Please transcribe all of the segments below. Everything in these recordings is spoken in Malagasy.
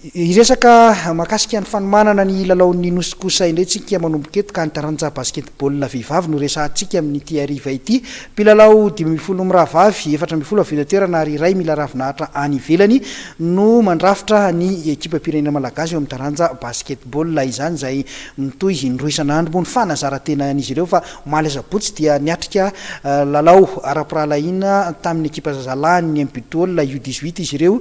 Hiresaka mahakasika ny fanomanana ny lalaon'ny Nosy kosa indray tsika manomboka eto ka ny taranja basketball vehivavy no resahantsika amin'ity hariva ity. Mpilalao dimy ambin'ny folo mirahavavy, efatra ambin'ny folo avy eto an-toerana ary iray mila ravinahitra any ivelany no mandrafitra ny ekipam-pirenena malagasy eo amin'ny taranja basketball izany izay mitohy indroa isan'andro. Moa ny fanazaran-tenan'izy ireo fa omaly asabotsy dia niatrika lalao ara-pirahalahiana tamin'ny ekipa zazalahin'ny Mpidool U dix-huit izy ireo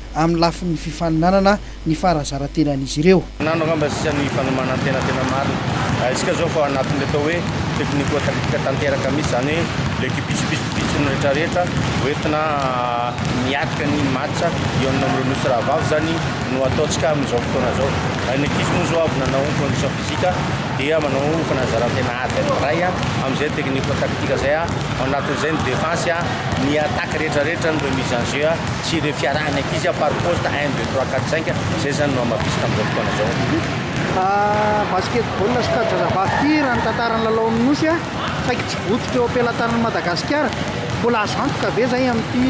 amin'ny lafiny fifaninanana ny faharazarantenan'izy ireo. Nano angamba sisa ny fanomanantena tena marina. Rahaintsika izao fa ao anatin'ilay atao hoe tekniko-taktika tanteraka mihitsy, izany hoe ilay kibiso pitsopitsony rehetrarehetra hoentina miatrika ny match eo amin'ny amin'ireo nosy rahavavy izany no ataontsika amin'izao fotoana izao. Raha ny ankizy moa izao avy nanao condition physique dia manao fanazaran-tena ady anankiray amin'izay tekniko-taktika izay ao anatin'izay ny defense, ny attaque rehetrarehetra no remise en jeu. Tsy ireo fiarahan'ny ankizy an, par poste un, deux, trois, quatre, cinq, izay izany no hamafisiko amin'izao fotoana izao. Basketball sy kajy zazavavy ity raha ny tantaran'ny lalaon'ny Nosy a, saiky tsy vototra eo am-pelatanan'i Madagasikara. Mbola azo antoka ve izay amin'ity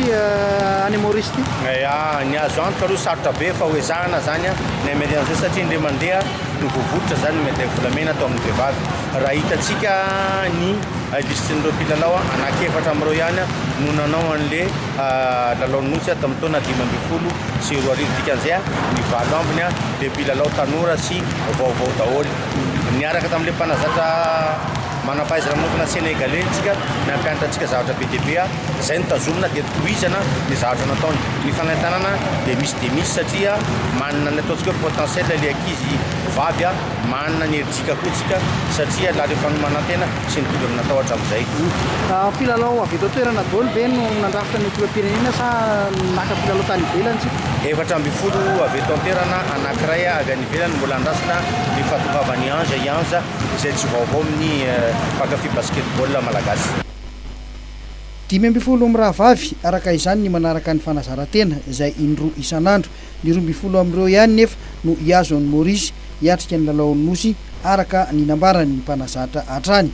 any Maorisy ity? Eia, ny azo antoka aloha sarotra be fa hoezahana izany an, ny hamery an'izao satria indray mandeha no voavototra izany ny medaille volamena atao amin'ny vehivavy. Raha hitantsika ny listrin'ireo mpilalao an, anankiefatra amin'ireo ihany no nanao an'le. Lalaon'ny Nosy tamin'ny taona dimy ambin'ny folo sy roa arivo, dikan'izay ny valo ambiny dia mpilalao tanora sy vaovao daholo. Niaraka tamin'ilay mpanazatra manam-pahaizana manokana Senegaley isika, nampianatra antsika zavatra be dia be, izay no tazomina dia tohizana ny zavatra nataony. Ny fanentanana dia misy dia misy satria manana ny ataontsika hoe potentiel ilay ankizy vavy, manana ny herijika koa isika satria la rehefa ny manantena Tsy nitovy amin'ny natao hatramin'izay koa. Mpilalao avy eto an-toerana daholo ve no nandrafitra ny ekipam-pirenena sa naka mpilalao tany ivelany isika? Efatra ambin'ny folo avy eto an-toerana, anankiray avy any ivelany mbola andrasana ny fahatongavan'i Ange Ianza izay tsy vaovao amin'ny mpankafy basketball malagasy. Dimy ambin'ny folo mirahavavy, araka izany ny manaraka ny fanazaran-tena izay indroa isan'andro Ny roa ambin'ny folo amin'ireo ihany nefa no hihazo an'i Maurice hiatrika ny lalaon'ny Nosy, araka ny nambaran'ny mpanazatra hatrany.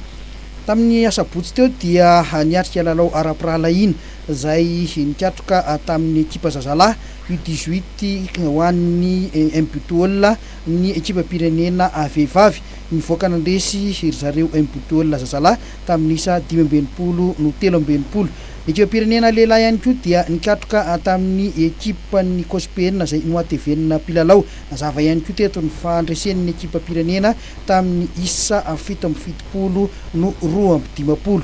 Tamin'ny asabotsy teo dia niatrika lalao ara-pirahalahiana izay nikatroka tamin'ny ekipa zazalahy U dix-huit ho an'ny Mbtool ny ekipam-pirenena vehivavy. Nivoaka nandresy ry zareo Mbtool zazalahy tamin'ny isa dimy amby enimpolo no telo amby enimpolo Ny ekipam-pirenena lehilahy ihany koa dia nikatroka tamin'ny ekipan'ny Cospn izay nohatevenina mpilalao. Nazava ihany koa teto ny fandresen'ny ekipam-pirenena tamin'ny isa fito amby fitopolo no roa amby dimampolo.